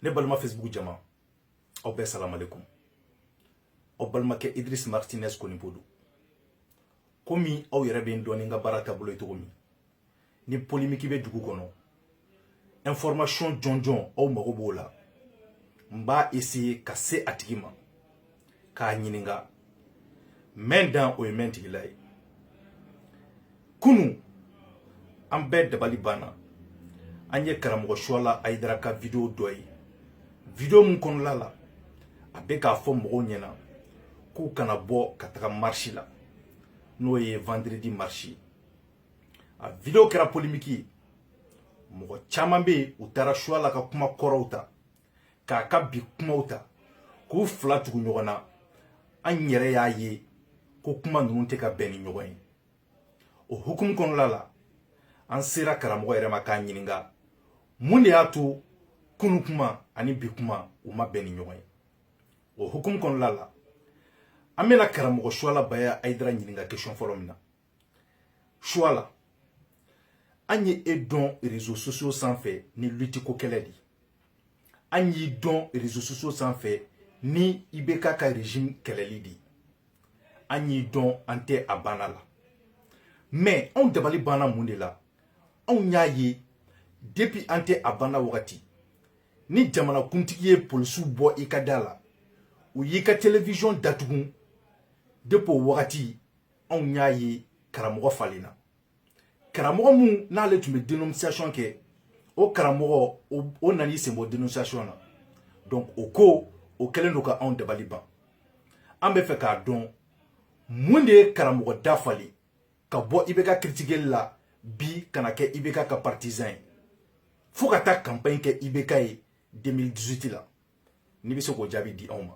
ne balima facebook jama aw bɛɛ salamalekun aw balimakɛ idris martinez konipo don komi aw yɛrɛ bɛ n dɔn ni n ka baara taabolo ye cogo min ni polimiki bɛ dugu kɔnɔ information jɔnjɔn aw mago b'o la n b'a essayer ka se a tigi ma k'a ɲininka mɛn dan o ye mɛn tigila ye kunu an bɛɛ dabali banna an ye karamɔgɔ suwala ayidara ka video dɔ ye video min kɔnɔla la a bɛ k'a fɔ mɔgɔw ɲɛna k'u kana bɔ ka taga marisi la n'o ye vendredi marisi a video kɛra polimiki ye mɔgɔ caman bɛ yen u taara suwala ka kuma kɔrɔw ta k'a ka bi kumaw ta k'u fila tugu ɲɔgɔn na an yɛrɛ y'a ye ko kuma ninnu tɛ ka bɛn ni ɲɔgɔn ye o hukumu kɔnɔla la an sera karamɔgɔ yɛrɛ ma k'a ɲininka mun de y'a to kunu kuma ani bi kuma u ma bɛn ni ɲɔgɔn ye o hukumu kɔnɔla la an bɛna karamɔgɔ suwala baya ayidara ɲininka question fɔlɔ min na suwala an ye e dɔn réseaux sociaux sanfɛ ni lutte ko kɛlɛ di an y'i dɔn réseaux sociaux sanfɛ ni ibk ka régime kɛlɛli di an y'i dɔn an tɛ a banna la mais anw dabali banna mun de la anw y'a ye depuis an tɛ a banna wagati ni jamanakuntigi ye polisiw bɔ i ka da la u y'i ka télévision datugu depuis o wagati anw y'a ye karamɔgɔ falenna karamɔgɔ min n'ale tun bɛ dénonciation kɛ o karamɔgɔ o nana i sen bɔ dénonciation na donc o ko o kɛlen don ka anw dabali ban an bɛ fɛ k'a dɔn mun de ye karamɔgɔ da falen ka bɔ ibk critiquer la bi ka na kɛ ibk ka partisan ye fo ka taa campagne kɛ ibk ye 2018 la n'i bɛ se k'o jaabi di anw ma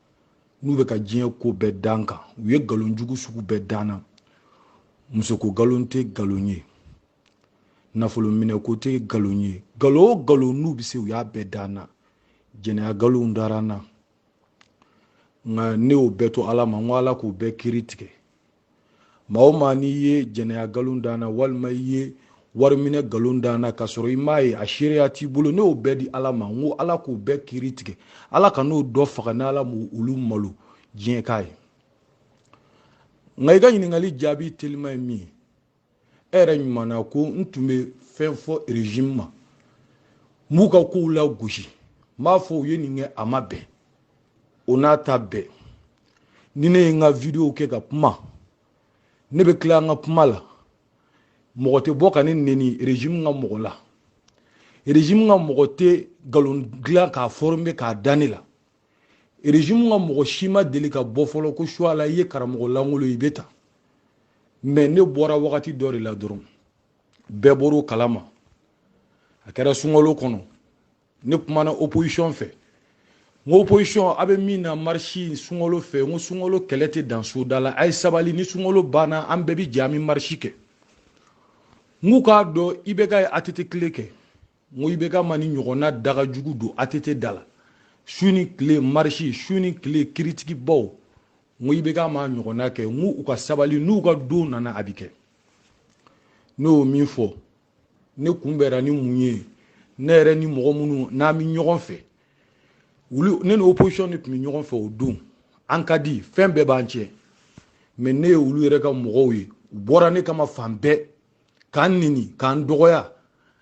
n'u bɛ ka diɲɛ ko bɛɛ da n kan u ye nkalon jugu sugu bɛɛ da n na musoko nkalon tɛ nkalon ye nafolo minɛ ko tɛ nkalon ye nkalon o nkalon n'u bɛ se u y'a bɛɛ da n na jɛnɛya nkalonw dara n na nka ne y'o bɛɛ to ala ma n ko ala k'o bɛɛ kiri tigɛ maa o maa n'i ye jɛnɛya nkalon da n na walima i ye wariminɛ nkalon da n na k'a sɔrɔ i m'a ye a seereya t'i bolo ne y'o bɛɛ di ala ma n ko ala k'o bɛɛ kiri tigɛ ala kan'o dɔ faga ni ala m'olu malo diɲɛ k'a ye nka i ka ɲininkali jaabi teliman ye min ye e yɛrɛ ɲuman na ko n tun bɛ fɛn fɔ régime ma n b'u ka kow lagosi n b'a fɔ u ye nin kɛ a ma bɛn o n'a ta bɛɛ ni ne ye n ka video kɛ ka kuma ne bɛ tila n ka kuma la mɔgɔ tɛ bɔ ka ne neni régime ka mɔgɔ la régime ka mɔgɔ tɛ nkalon dilan k'a former k'a da ne la régime ka mɔgɔ si ma deli ka bɔ fɔlɔ ko Chouala i ye karamɔgɔ lankolon i bɛ ta mais ne bɔra wagati dɔ de la dɔrɔn bɛɛ bɔr'o kalama a kɛra sunkalo kɔnɔ ne kumana opposition fɛ n ko opposition a bɛ min na marche sunkalo fɛ n ko sunkalo kɛlɛ tɛ dan soda la a ye sabali ni sunkalo banna an bɛɛ bɛ jɛ an bɛ marche kɛ n k'u k'a dɔn IBK ye ATT tile kɛ n ko IBK ma nin ɲɔgɔnna daga jugu don ATT da la su ni tile marche su ni tile kiritigibaw n ko IBK m'a ɲɔgɔnna kɛ n ko u ka sabali n'u ka don nana a bɛ kɛ ne y'o min fɔ ne kunbɛra ni mun ye ne yɛrɛ ni mɔgɔ minnu n'an bɛ ɲɔgɔn fɛ wuli ne ni opposition de tun bɛ ɲɔgɔn fɛ o don an ka di fɛn bɛɛ b'an cɛ mais ne ye olu yɛrɛ ka mɔgɔw ye u bɔra ne kama fan bɛɛ k'an neni k'an dɔgɔya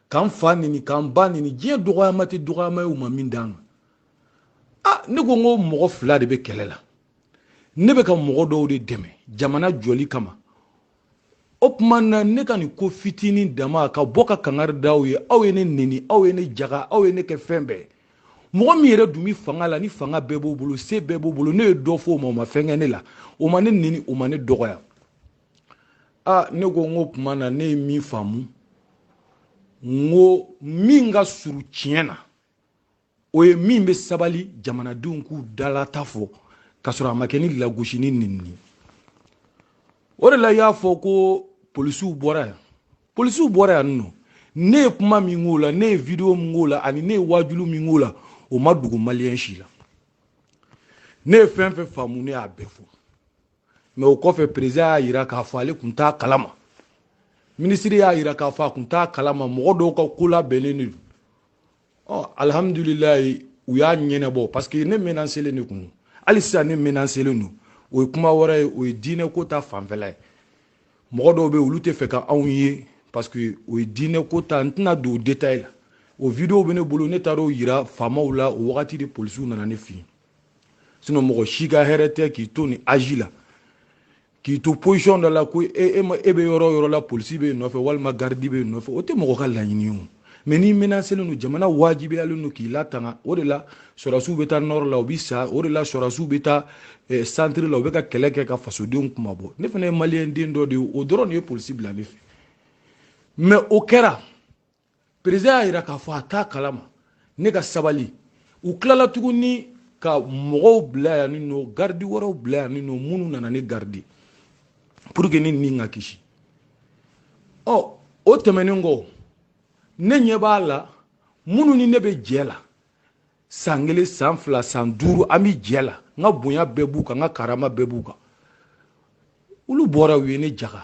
k'an fa neni k'an ba neni diɲɛ dɔgɔyama tɛ dɔgɔyama ye u ma min d'an ma a ne ko n ko mɔgɔ fila de bɛ kɛlɛ la ne bɛ ka mɔgɔ dɔw de dɛmɛ jamana jɔli kama o tuma na ne ka nin ko fitinin dama ka bɔ ka kangari da aw ye aw ye ne neni aw ye ne jaga aw ye ne kɛ fɛn bɛɛ mɔgɔ min yɛrɛ dun bɛ fanga la ni fanga bɛɛ b'o bolo se bɛɛ b'o bolo ne ye dɔ fɔ o ma o ma fɛn kɛ ne la o ma ne neni o ma ne dɔgɔya a ne ko n k'o tuma na ne ye min faamu n ko min ka surun tiɲɛ na o ye min bɛ sabali jamanadenw k'u dalata fɔ k'a sɔrɔ a ma kɛ ni lagosi ni neni ye o de la i y'a fɔ ko polisiw bɔra yan polisiw bɔra yan nɔ ne ye kuma min k'o la ne ye video min k'o la ani ne ye waajuli min k'o la o ma dogo maliyɛn si la ne ye fɛn fɛn faamu ne y'a bɛɛ fɔ mais o kɔfɛ président y'a yira k'a fɔ ale tun t'a kalama ministre y'a yira k'a fɔ a tun t'a kalama mɔgɔ dɔw ka ko labɛnnen de don ɔ alihamudulilayi u y'a ɲɛnabɔ parce que ne menacélen de kun hali sisan ne menacélen don o ye kuma wɛrɛ ye o ye diinɛ ko ta fanfɛla ye mɔgɔ dɔw bɛ olu t'a fɛ ka anw ye parce que o ye diinɛ ko ta n tɛna don o détail la o video bɛ ne bolo ne taara o yira faamaw la o wagati de polisiw nana ne fɛ yen sinɔn mɔgɔ si ka hɛrɛ tɛ k'i to nin aji la k'i to posisiyɔn dɔ la ko e, e, e bɛ yɔrɔ o yɔrɔ la polisi b'e nɔfɛ walima garidi b'e nɔfɛ o tɛ mɔgɔ ka laɲini ye o mɛ n'i menaselen don jamana wajibiyalen don k'i latanga o de la sɔrɔdasiw bɛ taa nɔrɔ la u bɛ sa o de la sɔrɔdasiw bɛ taa eh, santiri la u bɛ ka kɛlɛ kɛ ka fasodenw kunmabɔ ne fana ye maliyɛn den dɔ de ye o dɔrɔn de ye polisi bila ne fɛ mɛ o kɛra perezidan y'a jira k'a fɔ a t'a kalama ne ka sabali u tilala tuguni ka mɔgɔw bila yan ni nɔ garidi wɛrɛw bila yan ni nɔ minnu nana ne garidi pour que ne ni ka kisi ɔ oh, o tɛmɛnen kɔ ne ɲɛ b'a la minnu ni ne bɛ jɛ la san kelen san fila san duuru an bɛ jɛ la n ka bonya bɛɛ b'u kan n ka karama bɛɛ b'u kan olu bɔra u ye ne jaga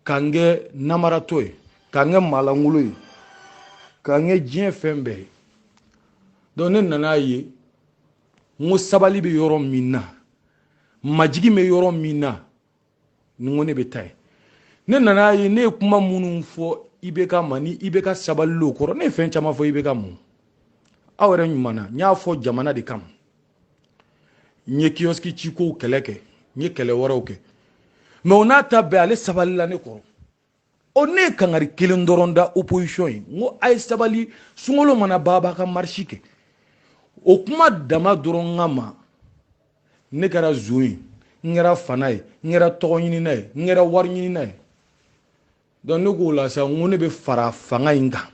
ka n kɛ namaratɔ ye ka n kɛ maa lankolon ye ka n kɛ diɲɛ fɛn bɛɛ ye donc ne nan'a ye n ko sabali bɛ yɔrɔ min na majigin bɛ yɔrɔ min na n ko ne bɛ taa yen ne nan'a ye ne ye kuma minnu fɔ IBK ma ni IBK sabali o kɔrɔ ne ye fɛn caman fɔ IBK ma aw yɛrɛ ɲuman na n y'a fɔ jamana de kama n ye kiyɔsiki cikow kɛlɛ kɛ n ye kɛlɛ wɛrɛw kɛ mɛ o n'a ta bɛɛ ale sabalila ne kɔrɔ o ne ye kangari kelen dɔrɔn da opposition ye n ko a ye sabali sunkalo mana ban a ka marisi kɛ o kuma dama dɔrɔn kama ne kɛra zon ye n kɛra fana ye n kɛra tɔgɔ ɲinina ye n kɛra wari ɲinina ye donc ne k'o la sa n ko ne bɛ fara fanga in kan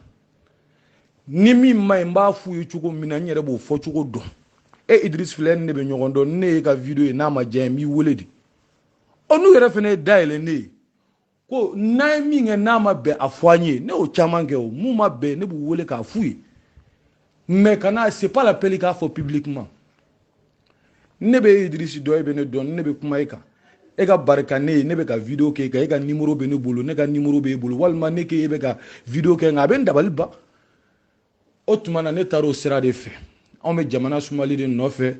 ni min ma ɲi n b'a f'u ye cogo min na n yɛrɛ b'o fɔ cogo dɔn e idris filɛ ni ne bɛ ɲɔgɔn dɔn ni ne y'e ka video ye n'a ma diya n b'i wele de ɔ n'u yɛrɛ fana ye da yɛlɛ ne ye ko n'an ye min kɛ n'a ma bɛn a fɔ an ye ne y'o caman kɛ o mun ma bɛn ne b'u wele k'a f'u ye mais kana c'est pas la peine i k'a fɔ publiquement ne bɛ idirisi dɔn e bɛ ne dɔn ne bɛ kuma e kan e ka barika ne ye ne bɛ ka video kɛ e kan e ka nimoro bɛ ne bolo ne ka nimoro bɛ e bolo walima ne k'e bɛ ka video kɛ nka a bɛ n dabali ban o tuma na ne taara o sira de fɛ anw bɛ jamana sumali de nɔfɛ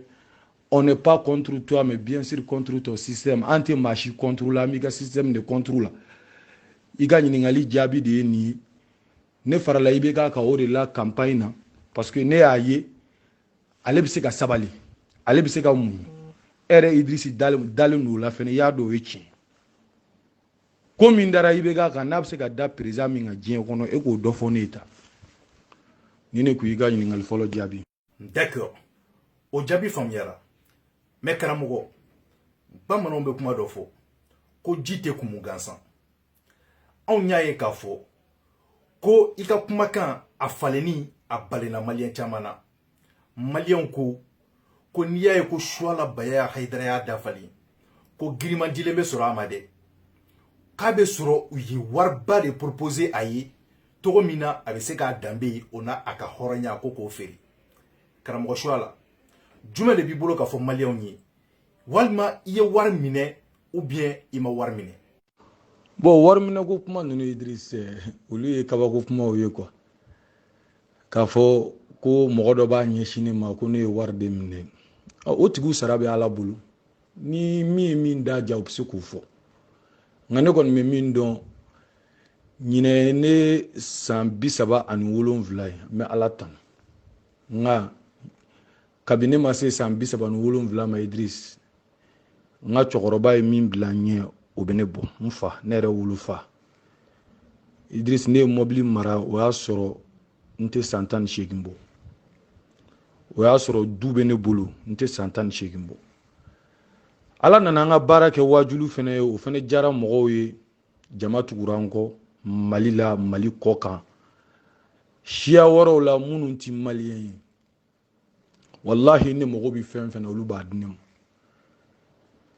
on n'est pas contre toi mais bien sûr contre ton système an tɛ maa si contre la an b'i ka système de contre la i ka ɲininkali jaabi de ye nin ye ne farala IBK kan o de la campagne na parce que ne y'a ye ale bɛ se ka sabali ale bɛ se ka muɲu e yɛrɛ idirisi dalen don o la fɛnɛ i y'a dɔn o ye tiɲɛ ko min dara IBK kan n'a bɛ se ka da perezidan min kan diɲɛ kɔnɔ e k'o dɔ fɔ ne ye tan ni ne kun y'i ka ɲininkali fɔlɔ jaabi D'accord. O jaabi faamuyara. Mais karamɔgɔ, bamananw bɛ kuma dɔ fɔ ko ji tɛ kumu gansan. Anw y'a ye k'a fɔ ko i ka kumakan a falenni a balenna maliyɛn caman na. Maliyɛnw ko ko n'i y'a ye ko Suwala Bayaya Hayidara y'a dafalen ko giriman dilen bɛ sɔrɔ a ma dɛ k'a bɛ sɔrɔ u ye wariba de proposer a ye cogo min na a bɛ se k'a danbe ye o n'a a ka hɔrɔnya ko k'o feere karamɔgɔ suwala jumɛn de b'i bolo k'a fɔ maliyɛnw ye walima i ye wari minɛ ou bien i ma wari minɛ bon wari minɛ ko kuma ninnu idris olu ye kabako kumaw ye quoi k'a fɔ ko mɔgɔ dɔ b'a ɲɛsin ne ma ko ne ye wari de minɛ o tigiw sara bɛ ala bolo ni min ye min da diya u bɛ se k'o fɔ nka ne kɔni bɛ min dɔn ɲinɛ ye ne san bi saba ani wolonwula ye n bɛ ala tanu nka kabini ne ma se san bi saba ni wolonwula ma idirisi n ka cɛkɔrɔba ye min bila n ɲɛ o bɛ ne bɔ n fa ne yɛrɛ wolofa idirisi ne ye mɔbili mara o y'a sɔrɔ n tɛ san tan ni seegin bɔ o y'a sɔrɔ du bɛ ne bolo n tɛ san tan ni seegin bɔ ala nana an ka baara kɛ waajulu fana ye o fana diyara mɔgɔw ye jama tugura n kɔ mali la mali kɔ kan siya wɛrɛw la minnu ti maliyɛn ye walahi ne mago bɛ fɛn fɛn na olu b'a di ne ma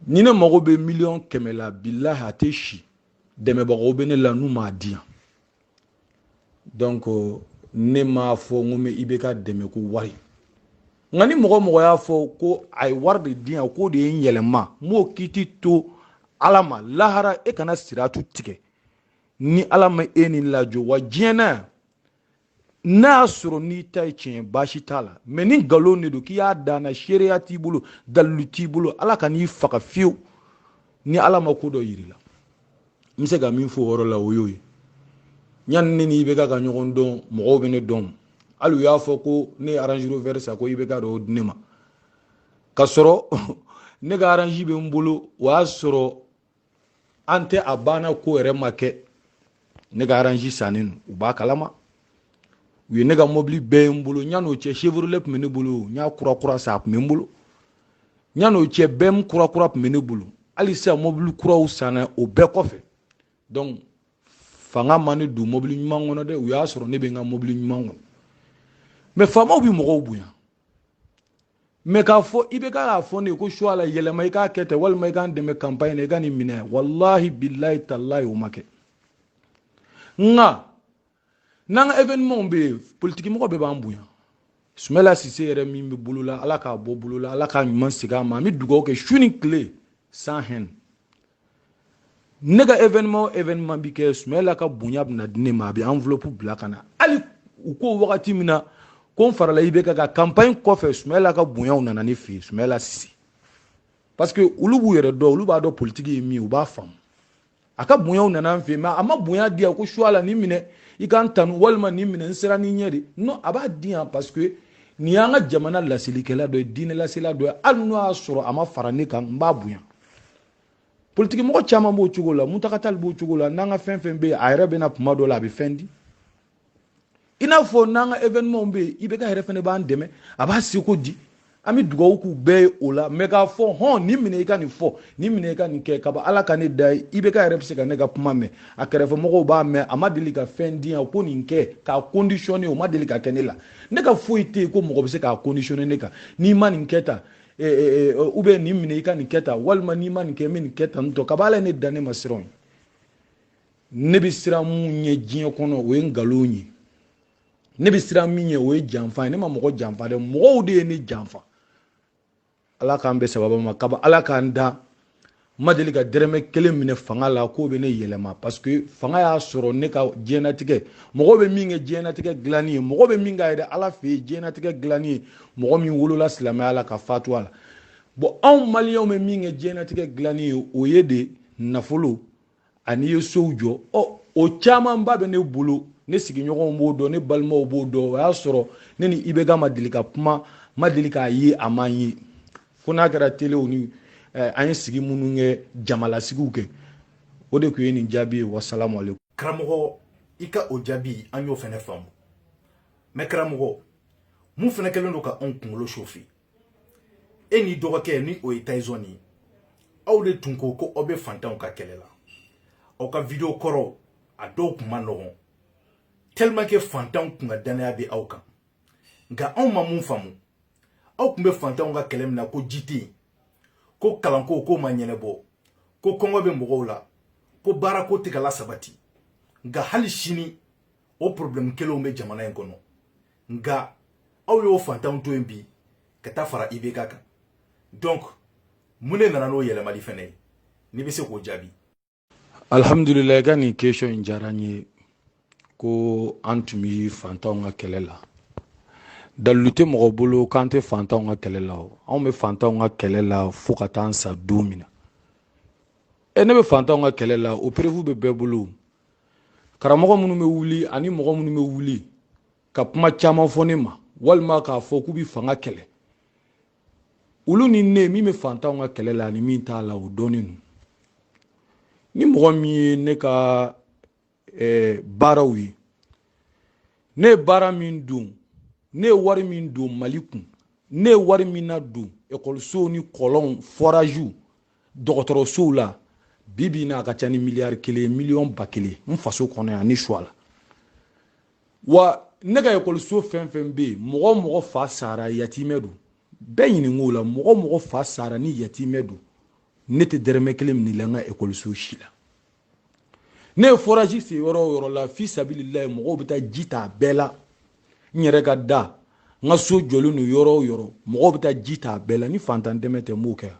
ni ne mago bɛ miliyɔn kɛmɛ la bilahi a tɛ si dɛmɛbagaw bɛ ne la n'u b'a di yan donc ne m'a fɔ n ko n bɛ ibk dɛmɛ ko wari nka ni mɔgɔ mɔgɔ y'a fɔ ko a ye wari de di yan k'o de ye n yɛlɛma n b'o kiti to ala ma lahara e kana siratu tigɛ ni ala ma e ni lajɔ wa diɲɛ na yan n'a y'a sɔrɔ n'i ta ye tiɲɛ baasi t'a la mais ni nkalon de don k'i y'a da n na seereya t'i bolo dalilu t'i bolo ala kan'i faga fiyewu ni ala ma ko dɔ yir'i la n bɛ se ka min fɔ o yɔrɔ la o y'o ye yanni ne ni ibk ka ɲɔgɔn dɔn mɔgɔw bɛ ne dɔn hali u y'a fɔ ko ne ye range rover san ko ibk de y'o di ne ma ka sɔrɔ ne ka range bɛ n bolo o y'a sɔrɔ an tɛ a banna ko yɛrɛ ma kɛ ne ka range sannen don u b'a kalama u ye ne ka mɔbili bɛɛ ye n bolo yann'o cɛ chevrolet tun bɛ ne bolo n y'a kurakura san a tun bɛ n bolo yann'o cɛ bm kurakura tun bɛ ne bolo hali sisan mɔbili kuraw sanna o bɛɛ kɔfɛ donc fanga ma ne don mɔbili ɲuman kɔnɔ dɛ u y'a sɔrɔ ne bɛ n ka mɔbili ɲuman kɔnɔ mais faamaw bɛ mɔgɔw bonya mais k'a fɔ ibk k'a fɔ ne ye ko suwala yɛlɛma i k'a kɛ ten walima i k'an dɛmɛ kanpaɲi na i ka nin minɛ walahi bilahi talahi o ma kɛ nka n'an ka evenemaw bɛ yen politikimɔgɔ bɛɛ b'an bonya sumala sise yɛrɛ min bɛ bolo la ala k'a bɔ bolo la ala k'a ɲuman segin a ma an bɛ dugawu kɛ su ni tile sans haine ne ka evenema o evenema bɛ kɛ sumala ka bonya bɛna di ne ma a bɛ enveloppe bila ka na hali u ko wagati min na ko n farala ibeka ka campagne kɔfɛ sumala ka bonyaw nana ne fɛ yen sumala sise parce que olu b'u yɛrɛ dɔn olu b'a dɔn politiki ye min ye u b'a faamu a ka bonyaw nana an fɛ yen a ma bonya di yan ko suwala nin minɛ i ka n tanu walima nin minɛ n sera ni ɲɛ de non a b'a di yan parce que nin y'an ka jamana laselikɛla dɔ ye diinɛlasela dɔ ye hali n'o y'a sɔrɔ a ma fara ne kan n b'a bonya politikimɔgɔ caman b'o cogo la muntaga tali b'o cogo la n'an ka fɛn fɛn bɛ yen a yɛrɛ bɛna kuma dɔ la a bɛ fɛn di i n'a fɔ n'an ka evenɛmanw bɛ yen ibeka yɛrɛ fɛnɛ b'an dɛmɛ a b'a seko di an bɛ dugawu k'u bɛɛ ye o la mais k'a fɔ hɔn nin minɛ i ka nin fɔ nin minɛ i ka nin kɛ kaba ala ka ne da ye ibeka yɛrɛ bɛ se ka ne ka kuma mɛn a kɛrɛfɛmɔgɔw b'a mɛn a ma deli ka fɛn di yan ko nin kɛ k'a kondisiyɔne o ma deli ka kɛ ne la ne ka foyi tɛ yen ko mɔgɔ bɛ se k'a kondisiyɔne ne kan n'i ma nin kɛ tan eh, eh, eh, ou bien nin minɛ i ka nin kɛ tan walima n'i ma nin kɛ n bɛ nin kɛ tan nin tɔ kaba ala ye ne da ne ma siran ye ne bɛ siran mun ɲɛ diɲɛ kɔnɔ o ye nkalon ye ne bɛ siran min ɲɛ o ye janfa ye ne ma mɔgɔ janfa dɛ mɔgɔw de ye ne janfa ala k'an bɛ sababa ma kaba ala ka n da n ma deli ka dɛrɛmɛ kelen minɛ fanga la k'o bɛ ne yɛlɛma parce que fanga y'a sɔrɔ ne ka diɲɛnatigɛ mɔgɔ bɛ min kɛ diɲɛnatigɛ dilanni ye mɔgɔ bɛ min ka yɛrɛ ala fɛ yen diɲɛnatigɛ dilanni ye mɔgɔ min wolola silamɛya la ka fatu a la bon anw maliyɛnw bɛ min kɛ diɲɛnatigɛ dilanni ye o ye de nafolo an'i ye sow jɔ ɔ o camanba bɛ ne bolo ne sigiɲɔgɔnw b'o dɔn ne balimaw b'o dɔn o y'a sɔrɔ ne ni ibeka ma deli ka kuma ma deli k'a ye a ma n ye fo n'a kɛra telew ni eh, an ye sigi minnu kɛ jamalasigiw kɛ o de tun ye nin jaabi ye wasalamu aleykum karamɔgɔ i ka o jaabi an y'o fɛnɛ faamu mais karamɔgɔ mun fɛnɛ kɛlen don ka anw kunkolo sofi e n'i dɔgɔkɛ ni o ye tayizɔn ye aw de tun ko ko aw bɛ fantanw ka kɛlɛ la aw ka video kɔrɔw a dɔw kun man nɔgɔn tellement que fantanw kun ka danaya bɛ aw kan nka anw ma mun faamu aw kun bɛ fantanw ka kɛlɛ min na ko ji tɛ yen ko kalanko k'o ma ɲɛnɛbɔ ko kɔngɔ bɛ mɔgɔw la ko baarako tɛ ka lasabati nka hali sini o problème kelenw bɛ jamana in kɔnɔ nka aw y'o fantanw to yen bi ka taa fara ibk kan donc mun de nana n'o yɛlɛmali fɛnɛ ye n'i bɛ se k'o jaabi alhamdulila i ka nin question in diyara n ye ko an tun bɛ fantanw ka kɛlɛ la dalilu tɛ mɔgɔ bolo k'an tɛ fantanw ka kɛlɛ la o anw bɛ fantanw ka kɛlɛ la fo ka taa an sa don min na e ne bɛ fantanw ka kɛlɛ la o preuve bɛ bɛɛ bolo karamɔgɔ minnu bɛ wuli ani mɔgɔ minnu bɛ wuli ka kuma caman fɔ ne ma walima k'a fɔ k'u bɛ fanga kɛlɛ olu ni ne min bɛ fantanw ka kɛlɛ la ani min t'a la o dɔnnen don ni mɔgɔ min ye ne ka eh, baaraw ye ne ye baara min don ne ye wari min don mali kun ne ye wari min na don ekɔlisow ni kɔlɔnw foraziw dɔgɔtɔrɔsow la bi bi na a ka ca ni miliyari kelen miliyɔn ba kelen n faso kɔnɔ yan inchallah wa ne ka ekɔliso fɛn o fɛn bɛ yen mɔgɔ o mɔgɔ fa sara yatimɛ don bɛɛ ɲininko la mɔgɔ o mɔgɔ fa sara ni yatimɛ don ne tɛ dɛrɛmɛ kelen minɛ la n ka ekɔliso si la ne ye forazi sen yɔrɔ o yɔrɔ la fi sabililayi mɔgɔw bɛ taa ji ta a bɛɛ la n yɛrɛ ka da n ka so jɔlen don yɔrɔ o yɔrɔ mɔgɔw bɛ taa ji ta a bɛɛ la ni fantan dɛmɛ tɛ n b'o kɛ yan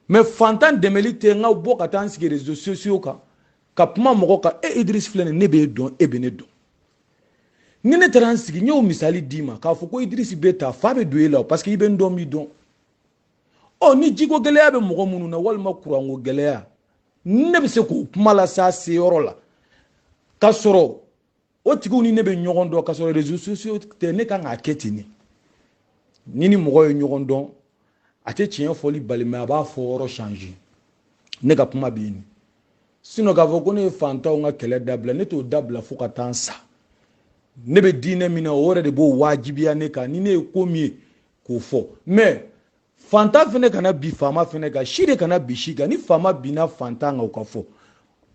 mɛ fantan dɛmɛli tɛ n ka bɔ ka taa n sigi rezo sosiyo kan ka kuma mɔgɔ kan e idirisi filɛ nin ne b'e dɔn e bɛ ne dɔn ni ne taara n sigi n y'o misali d'i ma k'a fɔ ko idirisi bɛ tan fa bɛ don e la parce que i bɛ n dɔn n b'i dɔn ɔ ni jiko gɛlɛya bɛ mɔgɔ minnu na walima kuranko gɛlɛya ne bɛ se k'o kuma las'a se yɔrɔ la ka sɔrɔ o tigiw ni ne bɛ ɲɔgɔn dɔn ka sɔrɔ réseaux sociaux tɛ ne kan k'a kɛ ten de ni ni mɔgɔ ye ɲɔgɔn dɔn a tɛ tiɲɛ fɔli bali mɛ a b'a fɔ yɔrɔ changer ne ka kuma bɛ yen sinon k'a fɔ ko ne ye fantanw ka kɛlɛ dabila ne t'o dabila fo ka taa n sa ne bɛ diinɛ min na o yɛrɛ de b'o waajibiya ne kan ni ne ye ko min ye k'o fɔ mɛ fantan fana kana bin faama fana kan si de kana bin si kan ni faama binna fantan kan o ka fɔ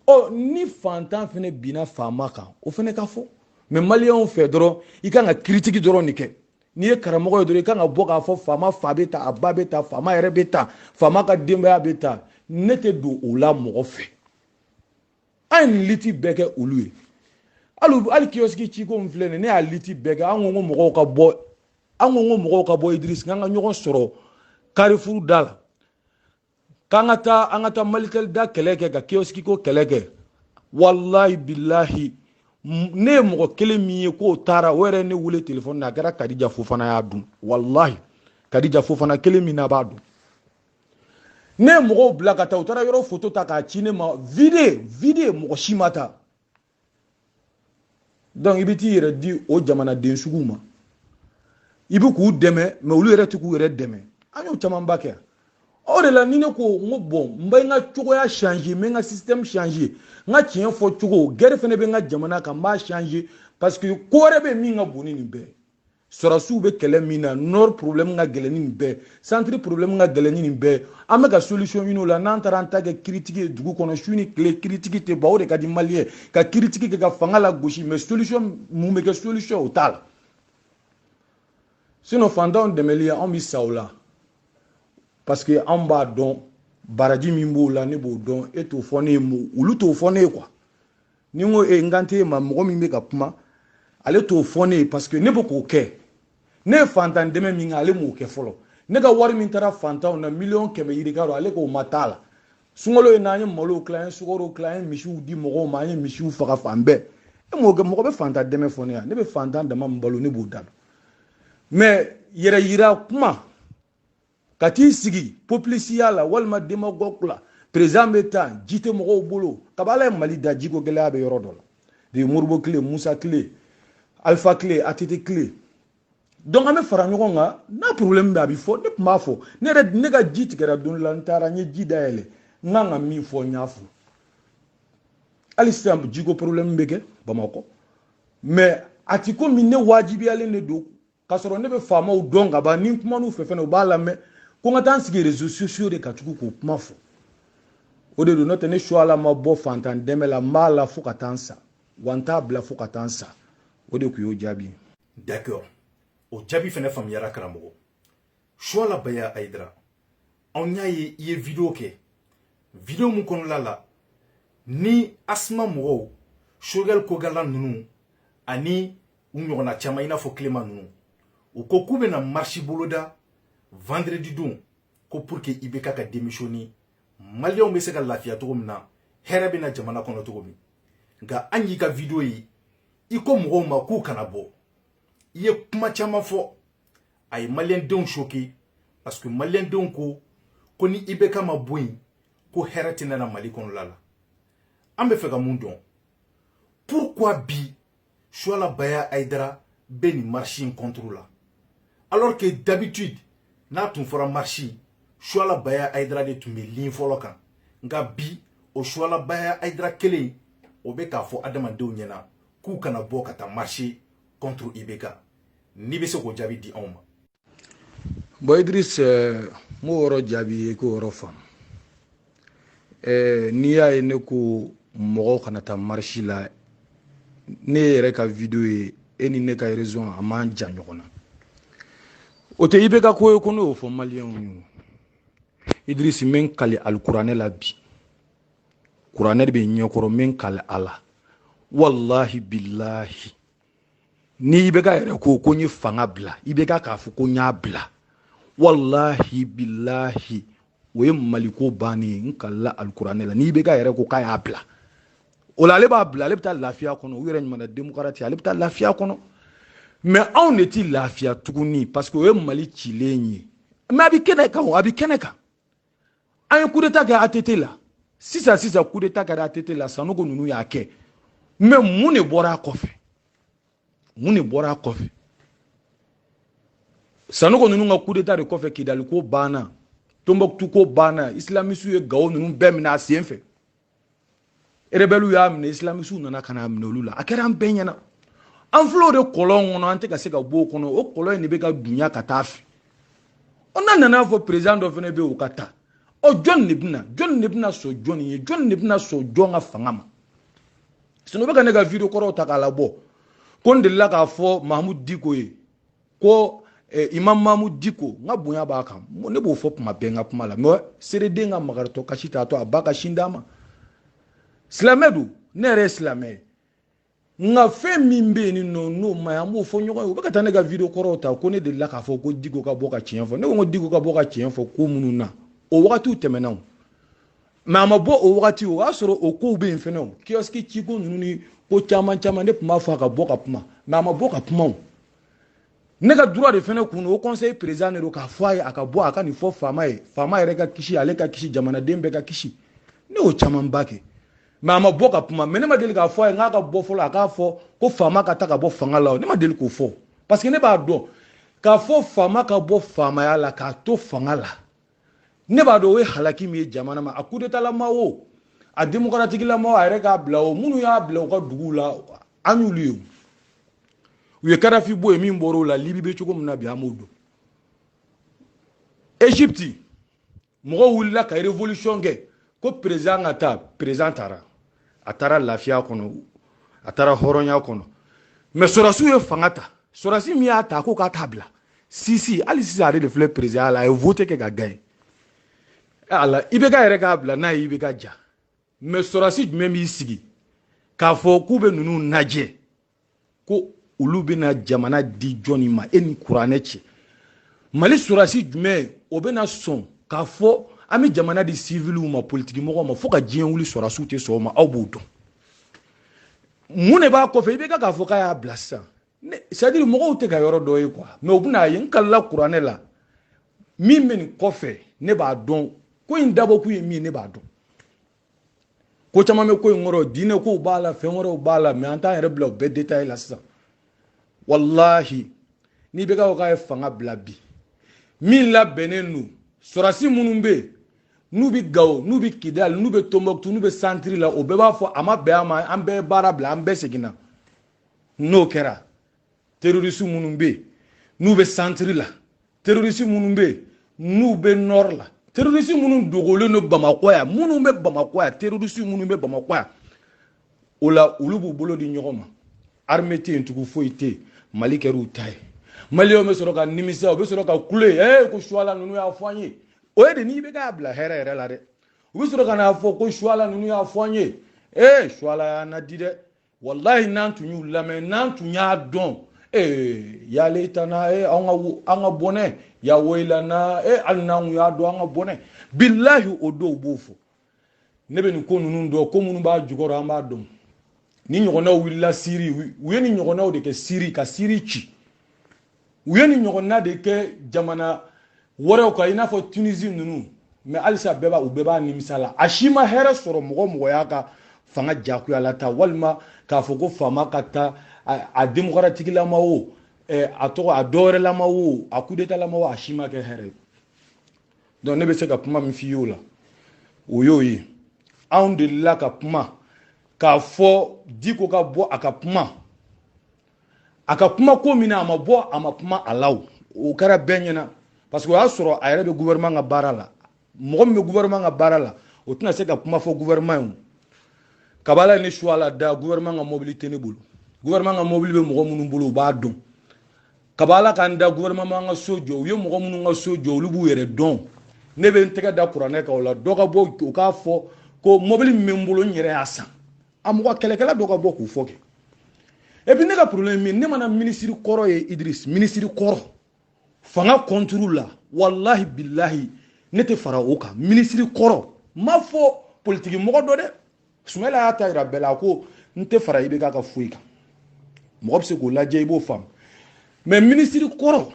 ɔ ni fantan fana binna faama kan o fana ka fɔ mɛ maliyɛnw fɛ dɔrɔn i kan ka kiritigi dɔrɔn de kɛ n'i ye karamɔgɔ ye dɔrɔn i kan ka bɔ k'a fɔ faama fa bɛ tan a ba bɛ tan faama yɛrɛ bɛ tan faama ka denbaya bɛ tan ne tɛ don o la mɔgɔ fɛ an ye nin liti bɛɛ kɛ olu ye hali hali kiyɔsiki ciko in filɛ nin ne y'a liti bɛɛ kɛ an ko ko mɔgɔw ka bɔ an ko ko mɔgɔw ka bɔ idirisi k'an ka ɲɔgɔn sɔrɔ karifuru da la k'an ka taa an ka taa malitɛli da kɛlɛ kɛ ka kiyɔsiki ko kɛlɛ kɛ walahi bilahi ne ye mɔgɔ kelen min ye k'o taara o yɛrɛ ne wele telefɔni na a kɛra kadija fofana y'a dun walahi kadija fofana kelen min na b'a dun ne ye mɔgɔw bila ka taa u taara yɔrɔ foto ta k'a ci ne ma vide vide mɔgɔ si ma ta donc i bɛ t'i yɛrɛ di o jamanaden suguw ma i bɛ k'u dɛmɛ mais olu yɛrɛ tɛ k'u yɛrɛ dɛmɛ an y'o camanba kɛ o de la ni ne ko n ko bon n bɛ n ka cogoya changer n bɛ n ka système changer n ka tiɲɛ fɔ cogo guerre fana bɛ n ka jamana kan n b'a changer parce que ko wɛrɛ bɛ min ka bon ni nin bɛɛ sɔrasiw bɛ kɛlɛ min na nord problème ka gɛlɛn ni nin bɛɛ centre problème ka gɛlɛn ni nin bɛɛ an bɛ ka solution ɲini o la n'an taara an ta kɛ critique ye dugu kɔnɔ su ni tile critique tɛ ban o de ka di maliyɛn ka critique kɛ ka fanga lagosi mais solution mun bɛ kɛ solution o t'a la sinon fantanw dɛmɛli anw bɛ sa o la parce que an b'a dɔn baraji min b'o la ne b'o dɔn e t'o fɔ ne ye olu t'o fɔ ne ye quoi ni n ko e n kan tɛ e ma mɔgɔ min bɛ ka kuma ale t'o fɔ ne ye parce que ne bɛ k'o kɛ ne ye fantan dɛmɛ min kɛ ale m'o kɛ fɔlɔ ne ka wari min taara fantanw na miliyɔn kɛmɛ yirika don ale k'o ma t'a la sunkalo ye n'an ye malow tila an ye sukaro tila an ye misiw di mɔgɔw ma an ye misiw faga fan bɛɛ e m'o kɛ mɔgɔ bɛ fantan dɛmɛ fɔ ne yan ne bɛ fantan dama min balo ne b'o da dɔn mais yɛrɛ yira kuma ka t'i sigi populisiya la walima démagogue la président bɛ taa ji tɛ mɔgɔw bolo kabi ala ye mali da jiko gɛlɛya bɛ yɔrɔ dɔ la de moribo tile musa tile alifa tile ATT tile donc an bɛ fara ɲɔgɔn kan n'a problème bɛ a bɛ fɔ ne tun b'a fɔ ne yɛrɛ ne ka ji tigɛra don la n taara n ye ji dayɛlɛ n kan ka min fɔ n y'a fɔ hali sisan jiko problème bɛ kɛ bamakɔ mais a ti komi ne wajibiyalen de don k'a sɔrɔ ne bɛ faamaw dɔn ka ban ni n kuman'u fɛ fɛnɛ u b'a lamɛn ko n ka taa n sigi réseaux sociaux de ka tugu k'o kuma fɔ o de don n'o tɛ ne suala ma bɔ fantan dɛmɛ la n b'a la fo ka taa n sa wa n t'a bila fo ka taa n sa o de kun y'o jaabi ye d'accord o jaabi fɛnɛ faamuyara karamɔgɔ suala baya ayidara anw y'a ye i ye video kɛ video min kɔnɔla la ni CMAS mɔgɔw Choguel Kokalla ninnu ani u ɲɔgɔnna caman i n'a fɔ Clément ninnu u ko k'u bɛna marche boloda vendredi don ko pour que IBK ka démissionner maliyɛnw bɛ se ka lafiya cogo min na hɛrɛ bɛ na jamana kɔnɔ cogo min nka an y'i ka video ye i ko mɔgɔw ma k'u kana bɔ i ye kuma caman fɔ a ye maliyɛndenw choqué parce que maliyɛndenw ko ko ni IBK ma bɔ yen ko hɛrɛ tɛna na mali kɔnɔla la an bɛ fɛ ka mun dɔn pourquoi bi Suala Baya Aïdara bɛ nin marche in contre la alors que d'habitude n'a tun fɔra marche Suala Baya Aïdara de tun bɛ ligne fɔlɔ kan nka bi o Suala Baya Aïdara kelen o bɛ k'a fɔ adamadenw ɲɛna k'u kana bɔ ka taa marche contre IBK n'i bɛ se k'o jaabi di anw ma bɔn idris n b'o yɔrɔ jaabi i ye k'o yɔrɔ faamu n'i y'a ye ne ko mɔgɔw kana taa marisi la ne yɛrɛ ka video ye e ni ne ka raison a man jan ɲɔgɔn na o tɛ ibk ko ye ko ne y'o fɔ maliyɛnw ye idris n bɛ n kali alikuranɛ la bi kuranɛ de bɛ n ɲɛkɔrɔ n bɛ n kali a la walahi bilahi ni ibk yɛrɛ ko ko n ye fanga bila ibk k'a fɔ ko n y'a bila walahi bilahi o ye maliko bannen ye n kalila alikuranɛ la ni ibk yɛrɛ ko k'a y'a bila o la ale b'a bila ale bɛ taa lafiya kɔnɔ u yɛrɛ ɲumanna demokarasi ale bɛ taa lafiya kɔnɔ mɛ anw de ti lafiya tuguni parce que o ye mali cilen ye mɛ a bɛ kɛnɛ kan a bɛ kɛnɛ kan an ye kudeta kɛ att la sisan sisan kudeta kɛra att la sanogo ninnu y'a kɛ mɛ mun de bɔra a kɔfɛ mun de bɔra a kɔfɛ sanogo ninnu ka kudeta de kɔfɛ kidali ko banna tombouctou ko banna islamisiw ye gawo ninnu bɛɛ minɛ a sen fɛ rebɛliw y'a minɛ isilamisiw nana ka n'a minɛ olu la a kɛra an bɛɛ ɲɛna an filɛ o de kɔlɔn kɔnɔ an tɛ ka se ka bɔ o kɔnɔ o kɔlɔn in de bɛ ka dunya ka taa a fɛ ɔ n'a nana fɔ perezidan dɔ fana bɛ yen o ka taa ɔ jɔn de bɛna jɔn de bɛna sɔn jɔn ye jɔn de bɛna sɔn jɔn ka fanga ma sinɔn u bɛ ka ne ka video kɔrɔw ta k'a labɔ ko n delila k'a fɔ mahamudu diko ye ko eh, imam mahamudu diko n ka bonya b'a kan ne b'o fɔ kuma bɛɛ n ka kuma la mɛ sereden ka makaritɔ kasi t'a to a ba ka sin d'a ma silamɛ don ne yɛrɛ ye silamɛ ye nka fɛn min bɛ yen ni nɔ n'o man ɲi an b'o fɔ ɲɔgɔn ye u bɛ ka taa ne ka video kɔrɔw ta ko ne delila k'a fɔ ko diko ka bɔ ka tiɲɛ fɔ ne ko n ko diko ka bɔ ka tiɲɛ fɔ ko minnu na o wagatiw tɛmɛna o mɛ a ma bɔ o wagati o y'a sɔrɔ o kow bɛ yen fɛnɛ o kiyɔsiki ciko ninnu ni ko caman caman ne tun b'a fɔ a ka bɔ ka kuma mɛ a ma bɔ ka kuma o ne ka droit de fɛnɛ kun haut conseil président de don k'a fɔ a ye a ka bɔ a ka nin fɔ faama ye faama yɛrɛ ka kisi ale ka kisi jamanaden bɛɛ ka kisi ne y'o camanba kɛ mɛ a ma bɔ ka kuma mɛ ne ma deli k'a fɔ a ye n k'a ka bɔ fɔlɔ a k'a fɔ ko faama ka taa ka bɔ fanga la o ne ma deli k'o fɔ parce que ne b'a dɔn k'a fɔ faama ka bɔ faamaya la k'a to fanga la ne b'a dɔn o ye halaki min ye jamana ma a kudetalama o a demokaratikilama a yɛrɛ k'a bila o minnu y'a bila u ka duguw la an y'olu ye u ye kadafi bɔ yen min bɔra o la libi bɛ cogo min na bi an b'o dɔn egypte mɔgɔw wulila ka révolution kɛ ko président ka taa président taara a taara lafiya kɔnɔ a taara hɔrɔnya kɔnɔ mais sɔrɔsiw ye fanga ta sɔrɔsi min y'a ta ko k'a t'a bila sisi hali sisan ale de filɛ perezidan la a ye vote kɛ ka gaɲe ala ibk yɛrɛ k'a bila n'a ye ibk ja mɛ sɔrɔsi jumɛn b'i sigi k'a fɔ k'u bɛ ninnu lajɛ ko olu bɛna jamana di jɔni ma e ni kuranɛ cɛ mali sɔrɔsi jumɛn o bɛna sɔn k'a fɔ an bɛ jamana di siviliw ma politikimɔgɔw ma fo ka diɲɛ wuli sɔrɔsiw tɛ sɔn o ma aw b'o dɔn mun de b'a kɔfɛ ibk k'a fɔ k'a y'a bila sisan sadiri mɔgɔw tɛ ka yɔrɔ dɔ ye kuwa mɛ u bɛna ye n kalila kuranɛ la min bɛ nin kɔfɛ ne b'a dɔn ko in dabɔkun ye min ne b'a dɔn ko caman bɛ ko in kɔrɔ diinɛ kow b'a la fɛn wɛrɛw b'a la mɛ an t'an yɛrɛ bila o bɛɛ detaye la sisan walahi n'ibk k'a ye fanga bila bi min labɛnnen don sɔrɔsi minnu bɛ yen n'u bɛ gawo n'u bɛ kidali n'u bɛ tombouctou n'u bɛ santiri la o bɛɛ b'a fɔ a ma bɛn a ma an bɛɛ ye baara bila an bɛɛ seginna n'o kɛra terorisi minnu bɛ yen n'u bɛ santiri la terorisi minnu bɛ yen n'u bɛ nɔri la terorisi minnu dogolen don bamakɔ yan minnu bɛ bamakɔ yan terorisi minnu bɛ bamakɔ yan o la olu b'u bolo di ɲɔgɔn ma arme tɛ yen tugun foyi tɛ yen mali kɛra u ta ye maliyɛnw bɛ sɔrɔ ka nimisa u bɛ sɔrɔ ka kule ee ko suwala ninnu y'a fɔ an ye o ye de n'i bɛ k'a bila hɛrɛ yɛrɛ la dɛ u bɛ sɔrɔ ka n'a fɔ ko suwala ninnu y'a fɔ an ye ee suwala y'an laadi dɛ walayi n'an tun y'u lamɛn n'an tun y'a dɔn ee ya leitana e an ka an ka bɔnɛ ya woyilana e hali n'an tun y'a dɔn an ka bɔnɛ bilahi o dɔw b'o fɔ ne bɛ nin ko ninnu dɔn ko minnu b'a jukɔrɔ an b'a dɔn nin ɲɔgɔnnaw wulila siri u ye nin ɲɔgɔnnaw de kɛ siri ka siri ci u ye nin ɲɔgɔnna de kɛ jamana wɛrɛw kan i n'a fɔ tunisi ninnu mɛ halisa bɛɛ b'a u bɛɛ b'a nimisa la a si ma hɛrɛ sɔrɔ mɔgɔ o mɔgɔ y'a ka fanga jagoya la ta walima k'a fɔ ko faama ka taa a demokaratikilama o a tɔgɔ a dɔwɛrɛlama o a kudetalama o a si ma kɛ hɛrɛ ye donc ne bɛ se ka kuma min f'i y'o la o y'o ye anw delila ka kuma k'a fɔ diko ka bɔ a ka kuma a ka kuma ko min na a ma bɔ a ma kuma a la o o kɛra bɛɛ ɲɛna parce que o y'a sɔrɔ a yɛrɛ bɛ gouvernement ka baara la mɔgɔ min bɛ gouvernement ka baara la o tɛna se ka kuma fɔ gouvernement ye o kab'ala ne suwala da gouvernement ka mobili tɛ ne bolo gouvernement ka mobili bɛ mɔgɔ minnu bolo u b'a dɔn kab'ala ka n da gouvernement ka so jɔ u ye mɔgɔ minnu ka so jɔ olu b'u yɛrɛ dɔn ne bɛ n tɛgɛ da kuranɛ kan o la dɔ ka bɔ u k'a fɔ ko mobili min bɛ n bolo n yɛrɛ y'a san a mɔgɔ kɛlɛkɛla dɔ ka bɔ k'u fɔ kɛ et puis ne ka problème min ne mana minisiri kɔrɔ ye idris minisiri kɔrɔ fanga kɔnturu la walahi bilahi ne tɛ fara o kan minisiri kɔrɔ ma fɔ politiki mɔgɔ dɔ dɛ sumayila y'a ta yira bɛɛ la a ko n tɛ fara IBK ka foyi kan mɔgɔ bɛ se k'o lajɛ i b'o faamu mais minisiri kɔrɔ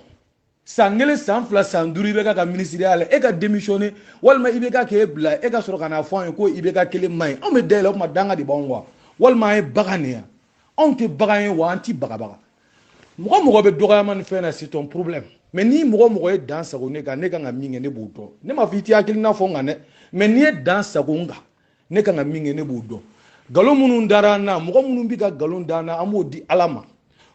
san kelen san fila san duuru IBK ka minisiriya la e ka demisiyɔne walima IBK k'e bila e ka sɔrɔ ka n'a fɔ an ye ko IBK kelen man ɲi anw bɛ da i la o tuma danga de b'anw wa walima an ye bagan de yan anw tɛ bagan ye wa an ti bagabaga mɔgɔ mɔgɔ bɛ dɔgɔyama ni fɛn na c'est ton problème mais ni mɔgɔ mɔgɔ ye dan sago ne kan ne kan ka min kɛ ne b'o dɔn ne ma fɔ i t'i hakilina fɔ n kan dɛ mais n'i ye dan sago n kan ne kan ka min kɛ ne b'o dɔn nkalon minnu dara an na mɔgɔ minnu bɛ ka nkalon da an na an b'o di ala ma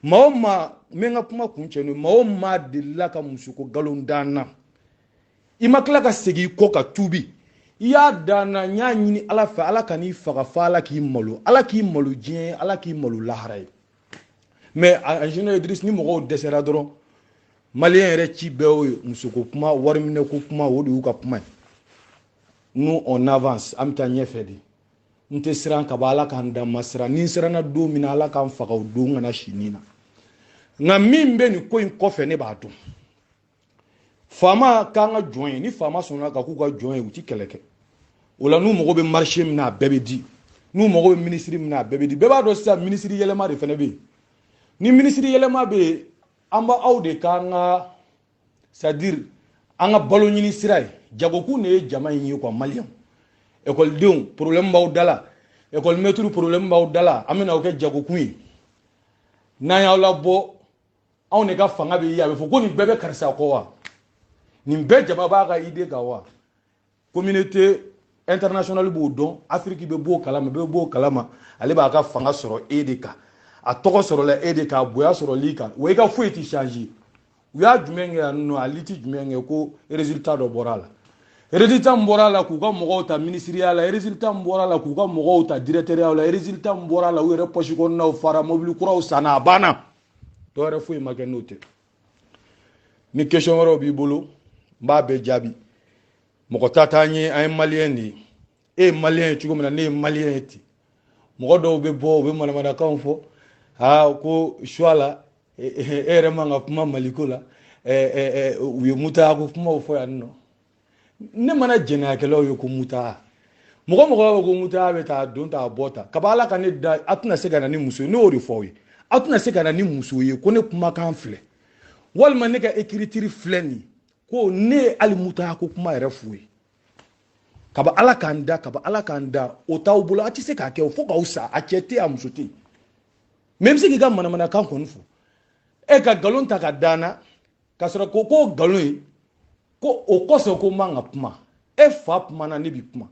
maa o maa n bɛ n ka kuma kuncɛ n'o ye maa o maa delila ka musoko nkalon da an na i ma tila ka segin i kɔ ka tuubi i y'a da an na n y'a ɲini ala fɛ ala kan'i faga fo ala k'i malo ala k'i malo diɲɛ ye ala k'i malo lahara ye mais en général idris ni mɔgɔw dɛsɛra dɔrɔn maliyɛn yɛrɛ ci bɛɛ y'o ye musoko kuma wariminɛko kuma o de y'u ka kuma ye nous on avance an bɛ taa ɲɛfɛ de n tɛ siran ka bɔ ala k'an dan ma siran ni n siranna don min na ala k'an faga o don kana si nin na nka min bɛ nin ko in kɔfɛ ne b'a dɔn faama k'an ka jɔn ye ni faama sɔnna ka k'u ka jɔn ye u ti kɛlɛ kɛ o la n'u mago bɛ marché min na a bɛɛ bɛ di n'u mago bɛ minisiri min na a bɛɛ bɛ di bɛɛ b'a dɔn sisan minisiri yɛlɛma de fana bɛ yen ni minisiri yɛlɛma bɛ yen an b'aw de k'an ka c'est à dire an ka balo ɲini sira ye jagokun de ye jama in ye quoi maliyɛnw ekɔlidenw problème b'aw da la ekɔli mɛtiri problème b'aw da la an bɛna o kɛ jagokun ye n'an y'aw labɔ anw de ka fanga bɛ ye a bɛ fɔ ko nin bɛɛ bɛ karisa kɔ wa nin bɛɛ jama b'a ka idée kan wa communauté internationale b'o dɔn afiriki bɛɛ b'o kalama bɛɛ b'o kalama ale b'a ka fanga sɔrɔ e de kan a tɔgɔ sɔrɔla e de kan a bonya sɔrɔl'i kan wa i ka foyi tɛ changer u y'a jumɛn kɛ yan nɔ a liti jumɛn kɛ ko résultat dɔ bɔra a la résultat min bɔra a la k'u ka mɔgɔw ta minisiriya la résultat min bɔra a la k'u ka mɔgɔw ta dirɛkitɛriyaw la résultat min bɔra a la u yɛrɛ pɔsi kɔnɔnaw fara mobili kuraw sanna a banna dɔ wɛrɛ foyi ma kɛ n'o tɛ ni question wɛrɛw b'i bolo n b'a bɛɛ jaabi mɔgɔ ta t'an ye an ye maliyɛn de ye e ye maliyɛn ye cogo min na ne ye maliyɛn ye ten mɔgɔ dɔw bɛ bɔ u bɛ manamanakanw fɔ aa ko suwala e yɛrɛ man ka kuma maliko la u ye mutayako kumaw fɔ yan nɔ ne mana jɛnɛyakɛlaw ye ko mutaa mɔgɔ mɔgɔ b'a fɔ ko mutaa bɛ taa don ta a bɔ ta kaba ala ka ne da a tɛna se ka na ni muso ye ne y'o de fɔ aw ye a tɛna se ka na ni muso ye ko ne kumakan filɛ walima ne ka écriture filɛ nin ko ne ye hali mutaa ko kuma yɛrɛ f'u ye kaba ala k'an da kaba ala k'an da o t'aw bolo a tɛ se k'a kɛ o fo k'aw sa a cɛ tɛ a muso tɛ mais i bɛ se k'i ka manamanakan kɔni fɔ e ka nkalon ta ka da n na k'a sɔrɔ ko k'o nkalon ye ko o kosɔn ko n man ka kuma e fa kumana ne bi kuma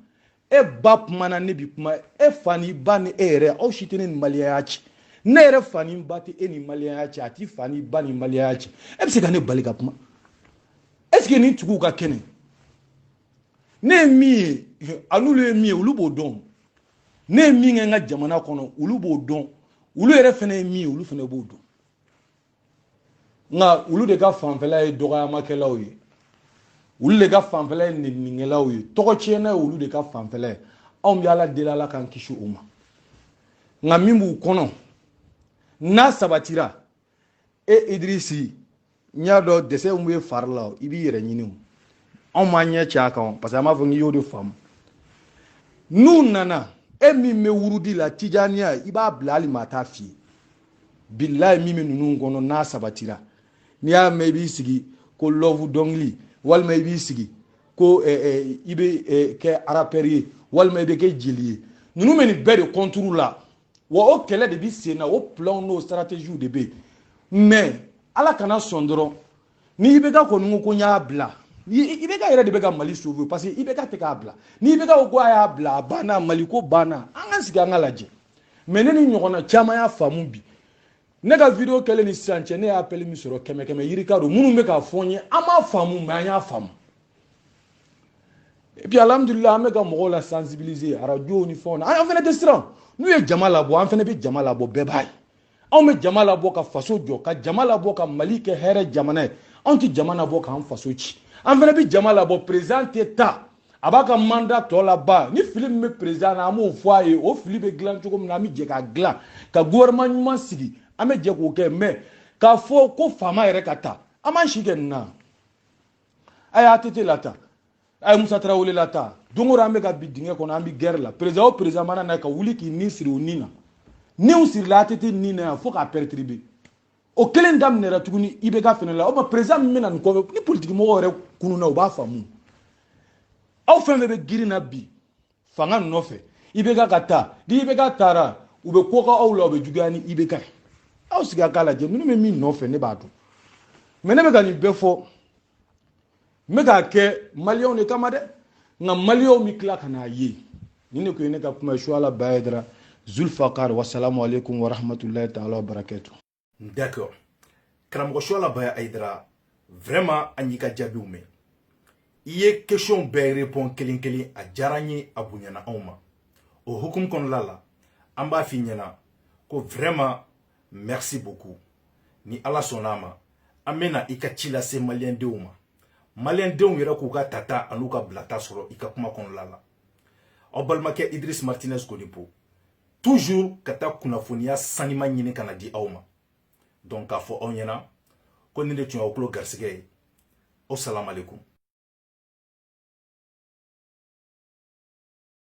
e ba kumana ne bi kuma e fa ni ba ni e yɛrɛ aw si tɛ ne ni maliyɛnya cɛ ne yɛrɛ fa ni ba tɛ e ni maliyɛnya cɛ a t'i fa ni ba ni maliyɛnya cɛ e bɛ se ka ne bali ka kuma est ce que nin tigiw ka kɛnɛ ne ye min ye a n'olu ye min ye olu b'o dɔn ne ye min kɛ n ka jamana kɔnɔ olu b'o dɔn olu yɛrɛ fana ye min ye olu fana b'o dɔn nka olu de ka fanfɛla ye dɔgɔyamakɛlaw ye olu de ka fanfɛla ye neninikɛlaw ye tɔgɔtiɲɛna ye olu de ka fanfɛla ye anw bɛ ala deli ala k'an kisi o ma nka min b'u kɔnɔ n'a sabatira e idirisi n y'a dɔn dɛsɛ min bɛ fari la i b'i yɛrɛ ɲini o anw m'an ɲɛ cɛ a kan parce que an b'a fɔ k'i y'o de faamu n'u nana e min bɛ wurudi la tijaniya i b'a bila hali maa t'a f'i ye bilayi min bɛ ninnu kɔnɔ n'a sabatira n'i y'a mɛn i b'i sigi ko love dɔnkili walima i b'i sigi ko eh, eh, i bɛ eh, kɛ arapɛri ye walima i bɛ kɛ jeli ye ninnu bɛ nin bɛɛ de kɔnturu la wa o kɛlɛ de bɛ sen na o planw n'o stratégiew de bɛ yen mais ala kana sɔn dɔrɔn ni ibk kɔni ko ko n y'a bila ibk yɛrɛ de bɛ ka mali sauver parce que ibk tɛ k'a bila ni ibk ko ko a y'a bila a banna mali ko banna an ka sigi an k'a lajɛ mais ne ni ɲɔgɔnna caman y'a faamu bi ne ka video kɛlen ni sisan cɛ ne ye appel min sɔrɔ kɛmɛ kɛmɛ yirika don minnu bɛ k'a fɔ n ye an m'a faamu mais an y'a faamu et puis alhamdulillah an bɛ ka mɔgɔw la sensibiliser arajow ni fɛnw na an fana tɛ siran n'u ye jama labɔ an fana bɛ jama labɔ bɛɛ b'a ye anw bɛ jama labɔ ka faso jɔ ka jama labɔ ka mali kɛ hɛrɛ jamana ye anw tɛ jama labɔ k'an faso ci an fana bɛ jama labɔ président tɛ taa a b'a ka mandat tɔ laban ni fili min bɛ président na an b'o fɔ a ye o fili bɛ dilan cogo min na an bɛ jɛ k'a dilan ka gouvernement ɲuman sigi an bɛ jɛ k'o kɛ mais k'a fɔ ko faama yɛrɛ ka taa an b'an si kɛ nin na a ye ATT lataa a ye musa tarawele lataa don o don an bɛ ka bin dingɛ kɔnɔ an bɛ guerre la président o président mana na ka wuli k'i ni siri o ni na n'u sirila ATT ni na yan fo k'a perturber o kelen daminɛra tuguni IBK fɛnɛ la o tuma président min bɛ na nin kɔfɛ ni politikimɔgɔw yɛrɛ kununna u b'a faamu aw fɛn fɛn bɛ girin na bi fanga nɔfɛ IBK ka taa ni IBK taara u bɛ ko kɛ aw la u bɛ juguya ni IBK ye aw sigi a k'a lajɛ ninnu bɛ min nɔfɛ ne b'a dɔn mais ne bɛ ka nin bɛɛ fɔ n bɛ k'a kɛ maliyɛnw de kama dɛ nka maliyɛnw bɛ tila ka n'a ye nin de kun ye ne ka kuma ye suala baya ayidara zulfakar wasalamu aleykum warahmatulahi taala wa barakatu d'accord karamɔgɔ suala baya ayidara vraiment an y'i ka jaabiw mɛn i ye question bɛɛ repond kelen kelen a diyara n ye a bonyana anw ma o hukumu kɔnɔla la an b'a f'i ɲɛna ko vraiment merci beaucoup ni ala sɔnn'a ma an bɛ na i ka ci lase maliyɛndenw ma maliyɛndenw yɛrɛ k'u ka tata an'u ka bilata sɔrɔ i ka kuma kɔnɔla la aw balimakɛ idris martinez konipo toujours ka taa kunnafoniya sanima ɲini ka na di aw ma donc k'a fɔ aw ɲɛna ko nin de tun y'aw tulo garisigɛ ye o salamalekun